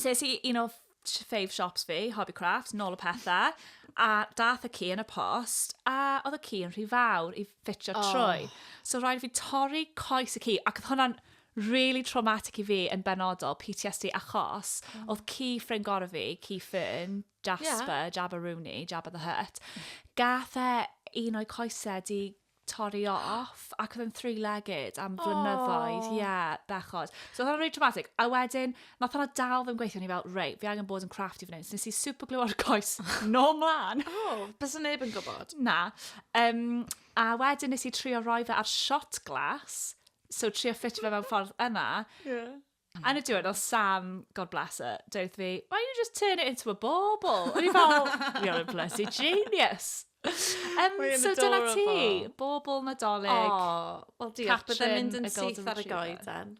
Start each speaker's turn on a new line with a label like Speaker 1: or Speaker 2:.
Speaker 1: Ses i un o fave shops fi, Hobby Crafts, nôl y pethau, a dath y ci yn y post, a oedd y ci yn rhy fawr i ffitio oh. trwy. So rhaid fi torri coes y ci, ac oedd hwnna'n really traumatic i fi yn benodol, PTSD, achos oh. oedd ci ffrind gorau fi, ci Fern, Jasper, yeah. Jabba Rooney, Jabba the Hutt, gath e un o'i coesau di torri off, ac oedd yn three-legged am flynyddoedd, ie, bechod. So oedd hwnna'n really traumatic. A wedyn, nath hwnna dal ddim gweithio, ni fel, rei, fi angen bod yn crafty fan hyn. So nes i super glue ar y coes, no mlaen. O, oh, bys yn neb yn gwybod. Na. Um, a wedyn nes i trio roi fe ar shot glass, so trio ffitio fe mewn ffordd yna. Yeah. Mm. Yn y diwedd, oedd Sam, God bless her, dweud fi, why don't you just turn it into a bauble? O'n i fel, you're a bloody genius. Um, so dyna ti, bobl nadolig. Oh, wel diolch, bydde'n mynd yn syth ar y goeden.